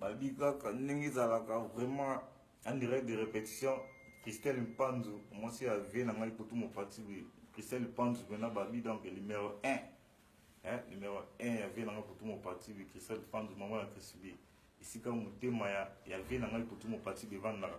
babi kaka ndenge ezalaka vraiment en direct de répétition christelle mpanzu mwasi ya vie na ngai potu mopati boye christelle mpanzu mpena babi donc numéro 1 eh, numéro 1 ya vie na ngai potu mopati boye christelle mpanzu mama ya chrisbi esika motema ya, ya vie na ngai potu mopati boye evandaka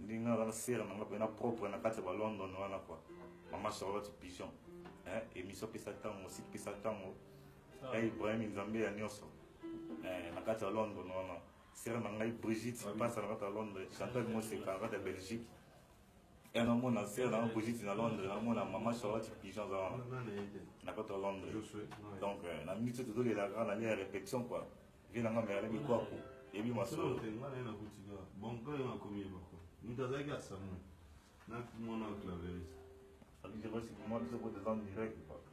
Ndinga wana sœur nanga pena propre na kati ya ba London wana quoi. Maman Charlotte Pigeon. Hein, émission pesa tango, site pesa tango. Ya Ibrahim Nzambe ya nyoso. Eh, na kati ya London wana. Sœur na ngai Brigitte pasa na kati ya Londres, Chantal Moseka na kati ya Belgique. Et na mona sœur na Brigitte na Londres, na mona maman Charlotte Pigeon za wana. Na kati ya Londres. Donc na minute tozo lela kaka na lia répétition quoi. Vie na nga merle bikwaku ebi masolo. Solo te nga na ye nakuti kaka bon kaka nga komi ye bako moto azalaki asamu na mwana claveris. Abidjan basi kumwa biso ko tezan direct bako.